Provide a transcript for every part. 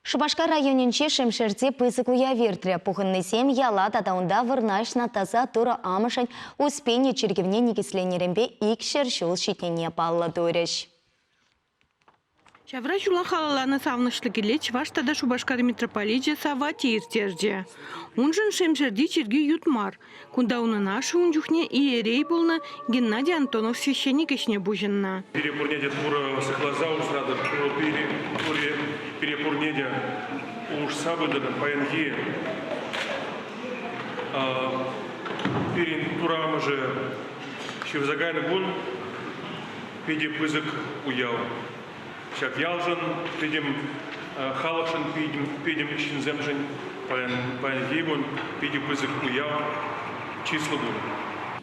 Шупашкар районӗнчи Шемшерти пысӑк уяв иртрӗ. Пухӑннисем яла тата унта вырнаҫнӑ таса Турӑ Амӑшӗн Успени чиркӗвне никӗсленнӗренпе икҫӗр ҫул ҫитнине паллӑ турӗҫ. Ҫавра ҫула халалланӑ савӑнӑҫлӑ кӗле Чӑваш тата Шупашкар митрополичӗ Савватий ирттерчӗ. Уншӑн Шемшерти чиркӳ ют мар, Кунта унӑн ашшӗ ун чухне иерей пулнӑ Геннадий Антонов священник ӗҫне пуҫӑннӑ. Пире пурне те Турӑ сыхласа усратӑр, Турӑ пире, пури, пире пурне те улӑшса пытӑр паянхи пирӗн Турӑ Амӑшӗ ҫырса кайнӑ кун питӗ пысӑк уяв. Ҫак ялшӑн пӗтӗм халӑхшӑн, пӗтӗм ҫынсемшӗн паянхи кун питӗ пысӑк уяв, чыслӑ кун.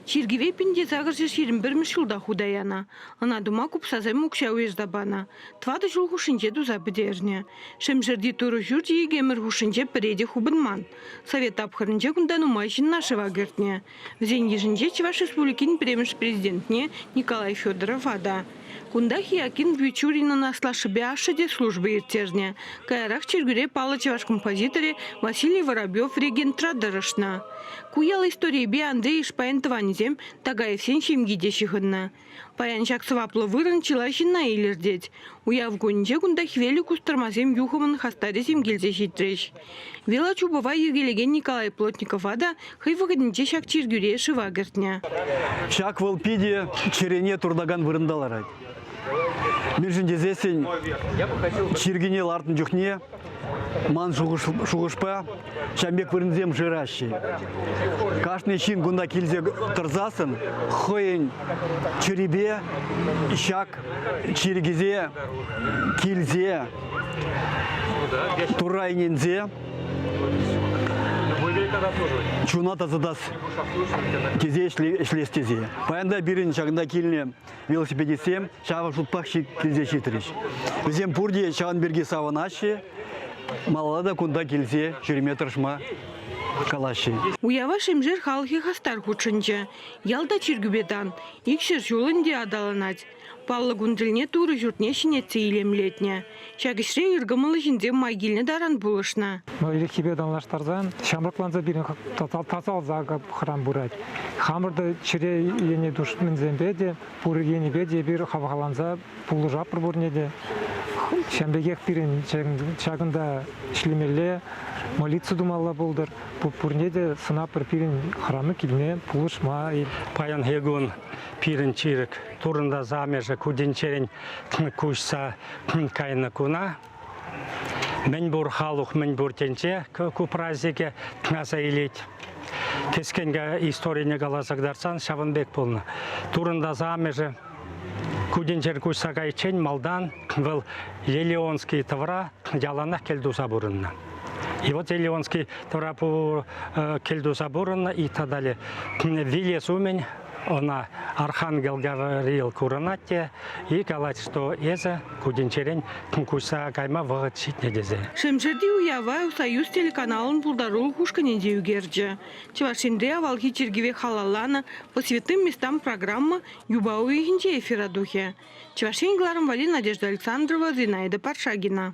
Чиркӗве пин те сакӑрҫӗ ҫирӗм пӗрмӗш ҫулта хута янӑ. Ӑна тума купсасем укҫа уйӑрса панӑ. Тӑватӑ ҫул хушшинче туса пӗтернӗ. Шемшерти Турӑ ҫурчӗ икемӗр хушшинче пӗре те хупӑнман. Совет тапхӑрӗнче кунта нумай ҫынна шыва кӗртнӗ. Вӗсен йышӗнче Чӑваш Республикин пӗрремӗш президентне Николай Федорова та, кунтах Иаким Вичуринӑн аслашшӗпе ашшӗ те служба ирттернӗ. Каярах чиркӳре паллӑ чӑваш композиторӗ Василий Воробьев регентра тӑрӑшнӑ. Ку ял историйӗпе Андрей Ишпайӑн тӑванӗсем Тагаевсен ҫемйи те ҫыхӑннӑ. Паян ҫак сӑваплӑ вырӑн чылай ҫынна илӗртет. Уяв кунӗнче кунта хӗвеллӗ кустӑрмасем юхӑмӑн хастарӗсем килсе ҫитрӗҫ. Велочупӑва йӗркелекен Николай Плотникова та хӑй вӑхӑтӗнче ҫак чиркӳре шыва кӗртнӗ. Ҫак вӑл питӗ чӗрене туртакан вырӑнта ларать. Мӗншӗн тесессӗн чиркӳне лартнӑ чухне Ман шухӑшпа, ҫав пек вырӑнсем шыраҫҫӗ. Кашни ҫын кунта килсе тӑрсассӑн хӑйӗн чӗрипе ҫак чиркӗсе килсе Турра ӗненсе чуна тасатас тесе ӗҫлес тесе. Паян та пирӗн ҫакӑнта килнӗ велосипедистсем ҫавӑн шутпах килсе ҫитрӗҫ. Вӗсем пурте ҫавӑн пирки савӑнаҫҫӗ, малалла та кунта килсе ҫӳреме тӑрӑшма калаҫҫӗ. Уява Шемшер халӑхӗ хастар хутшӑнчӗ. Ялта чиркӳпе тан. Икҫӗр ҫул ӗнтӗ аталанать. Паллӑ кун тӗлне Турӑ ҫуртне ҫӗнетсе илемлетнӗ. Ҫак ӗҫре ыркӑмӑллӑ ҫынсем май килнӗ таран пулӑшнӑ. Иреххипе танлаштарсан ҫамрӑкланса пирӗн тасалса храм пырать. Хамӑр та чӗре ене тушмансемпе те, пур енӗпе те эпир хавхаланса пулӑшатпӑр пурне те. Ҫавӑн пекех пирӗн ҫакӑнта ӗҫлемелле, молитва тумалла пултӑр. Пурне те сӑнатпӑр пирӗн храму килне пулӑшма. Паянхи кун пирӗн чирӗк Турӑнтас амӑшӗ ку тӗнчерен куҫса кайнӑ куна мӗн пур халӑх, мӗн пур тӗнче ку празднике аса илет. Кӗскенке историне каласа кӑтартсан ҫавӑн пек пулнӑ. Турӑнтас амӑшӗ ку тӗнчер куҫса кайиччен малтан вӑл Елеонский тӑвра яланах кӗл туса пурӑннӑ. И вот Елеонский тӑвра кӗл туса пурӑннӑ и тата вилес умӗн Ӑна Архангел Гавриил курӑнать те и калать, что эсӗ кудӗнчерен куҫса кайма вӑхӑт ҫитнӗ тесе. Шемшерти уява Союз телеканалӑн пултарулӑх ушкӑнӗнче ӳкерчӗ. Чӑваш Енре авалхи чиркӗве халалланӑ По святым местам программа юпа уйӑхӗнче эфира тухӗ. Чӑваш Ен кӑларӑмвали Надежда Александрова, Зинаида Паршагина.